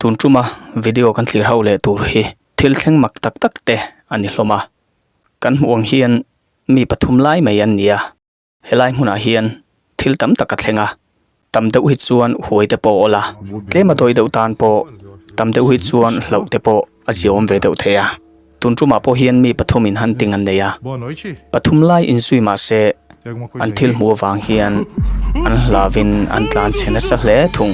Tun tuma video kan thlir hauh leh tur hi thil thleng mak tak tak te a ni hlawm a, kan hmuh ang hian mi pathum lai mai an ni a. Helai hmunah hian thil tam tak a thleng a, tam deuh hi chuan huai te pawh a awlh a, tlem a tawi deuh tan pawh tam deuh hi chuan hlauh te pawh a ziawm ve deuh thei a. Tun tumah pawh hian mi pathum in han ting an nei a, pathum lai in zui mah se an thil hmu avang hian an hlav in an tlan chhe nasa hle thung.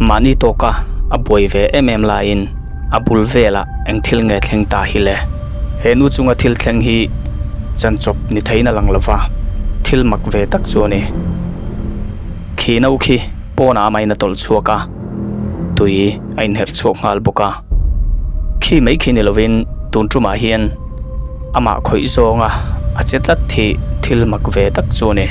Mahni tawka a buai ve em em laiin a bul vela eng thil nge thleng ta hi le? He nu chunga thil thleng hi chanchawp ni theiin a lang lova, thil mak ve tak chu a ni. Khi no khi pawnah amah in a tawlh chhuak a, tui a inherh chhuak nghal bawk a. Khi mai khi ni lovin tun tumah hian. amah khawih zawnga a che tlat hi thil mak ve tak chu a ni.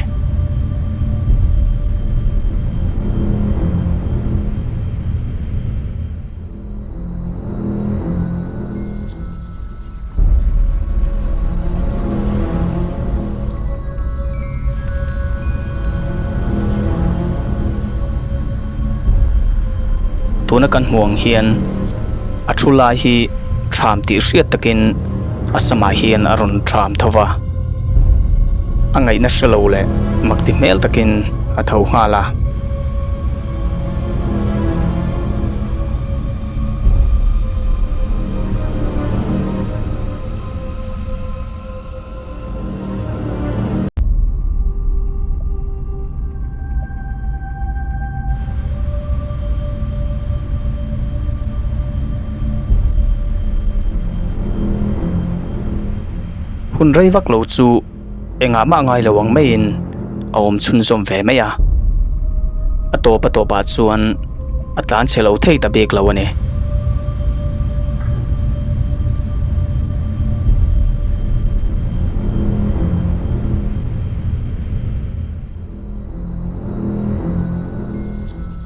tuna kan hmuh ang hian a thu lai hi thram tih hriat takin a samah hian a rawn thram tho va a ngaih nasa lo leh mak ti hmel takin a tho nghal a. hun rei vak lo chu engah mah ngailo ang maiin a awm chhunzawm ve mai a a tawp a tawpah chuan a tlan chhe lo thei ta bik lo a ni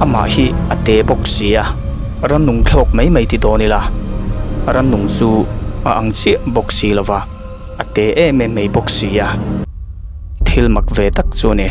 amah hi a te bawk sia, rannung thlawk mai mai ti dawn ila, rannung chu a ang chiah bawk si lova, a te em em mai bawk sia, thil mak ve tak chu a ni.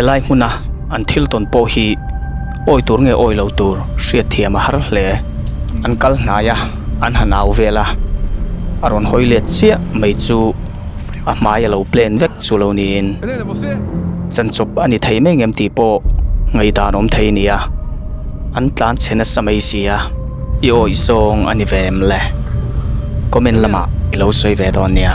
helai hmuna an thil tawn pawh hi awi tur nge awilo tur hriatthiam a har hle an kal hnai a an hanau vel a a rawn hawi let chiah mai chu-- a hmai a lo plan vek chu lo niin chanchawp a ni thei mai ngem tih pawh ngaidan awm thei a ni a an tlan chhe nasa mai sia i awih zawng a ni ve em le comment lamah i lo sawi ve dawn nia.